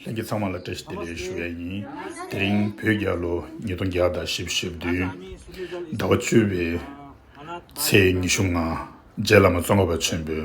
ལྷན་རྒྱས་ཚང་མ་ལ་བཀྲ་ཤིས་བདེ་ལེགས་ཞུ་ཡ་ཡིན། དེ་རིང་བོད་རྒྱལ་ལོ་ཉིས་སྟོང་བརྒྱ་དང་ཞེ་བཞི་བདུན་ཟླ་བ་བཅུ་བའི་ཚེས་ཉི་ཤུ་ལྔ་རྗེ་བླ་མ་བཙོན་པ་པ་ཆེན་པོའི་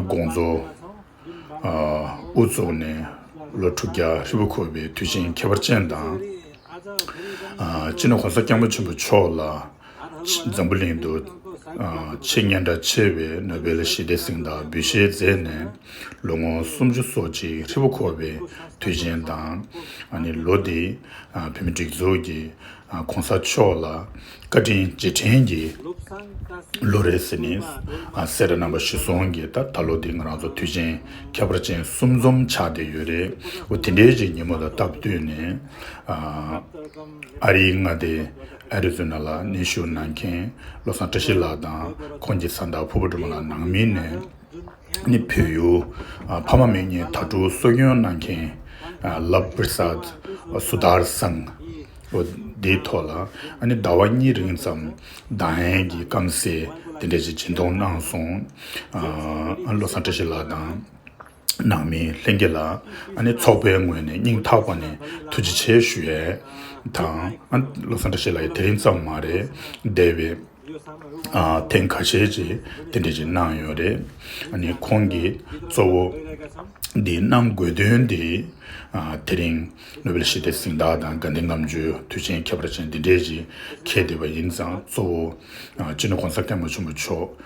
དགོངས་རྫོགས་དབུ་བཙུགས་ནས་ལོ་དྲུག་བརྒྱ་ཧྲིལ་པོ་འཁོར་བའི་དུས་ཆེན་ཁྱད་པར་ཅན་དང། སྤྱི་ནོར་གོང་ས་སྐྱབས་མགོན་ཆེན་པོ་མཆོག་ལ། འཛམ་བུ་གླིང་དུ་ཆེས་སྙན་གྲགས་ཆེ་བའི་ནོ་བེལ་ཞི་བདེ་གཟེངས་རྟགས་འབུལ་བཞེས་མཛད་ནས་ལོ་ངོ་སུམ་ཅུ་སོ་གཅིག་ཧྲིལ་པོ་འཁོར་བའི་དུས་ཆེན་དང། ལོ་འདིའི་བོད་མི་སྒྲིག་འཛུགས་ཀྱི ྋགོང་ས་མཆོག་ལ་བཀའ་དྲིན་རྗེས་དྲན་གྱི་ལོ་རེད་ཟེར་ནས་སེ་ར་རྣམ་པ་བཞི་སོང་གི་ད་ལོ་འདི་ང་རང་ཚོ་དུས་ཆེན་ཁྱད་པར་ཅན་གསུམ་འཛོམས་ཆགས་བསྡད་ཡོད་རེད་འོ་དེ་འདྲའི་གཅིག་ཉིན་མོ་ལ་སྟབས་བསྟུན་ནས་ཨ་རིའི་མངའ་སྡེ Arizona། ལ་གནས་བཞུགས་གནང་མཁན་བློ་བཟང་བཀྲ་ཤིས་ལགས་དང་ཁོང་གི་བཟའ་ཟླ་ཕུ་བོ་སྒྲོལ་མ་ལགས་ནང་མི་ནས་ནི་བོད་ཡུལ་ཕ་མ་མེས་གཉིས་དྭ་ཕྲུག་གསོ་སྐྱོང་གནང་མཁན Love Prasad Sudhar Sangh པོ་དེའི་ཐོག་ལ་ནི་ཟླ་བ་གཉིས་རིང་ཙམ་བདག་ཧན་གྱི་སྐམ་སའི་དེ་འདྲ་ཞིག་སྦྱིན་གཏོང་གནང་སོང་བློ་བཟང་བཀྲ་ཤིས་ལགས་དང། ནང་མི་ལྷན་རྒྱས་ལ་ཚོགས་པའི་ངོས་ནས་སྙིང་ཐག་པ་ནས་ཐུགས་རྗེ་ཆེ་ཞུ་ཡས་དང། བློ་བཟང་བཀྲ་ཤིས་ལགས་ཀྱིས་དེ་རིང་ཙམ་མ་རེད་འདས་པའི་ཐེངས་ཁ་ཤས་རྗེས་དེ་འདྲ་ཞིག་གནང་ཡོད་རེད། ཁོང་གིས་གཙོ་བོ་འདི་གནང་དགོས་དོན་དེ་དེ་རིང་ནོ་བེལ་ཞི་བདེ་གཟེངས་རྟགས་དང་དགའ་ལྡན་ངམ་བརྗོད་དུས་ཆེན་ཁྱད་པར་ཅན་འདི་འདྲས་ཞིག་ཁེལ་བསྡད་པ་ཡིན་ཙང་གཙོ་བོ་སྤྱི་ནོར་གོང་ས་སྐལ་མ་ཆེན་པོ་མཆོག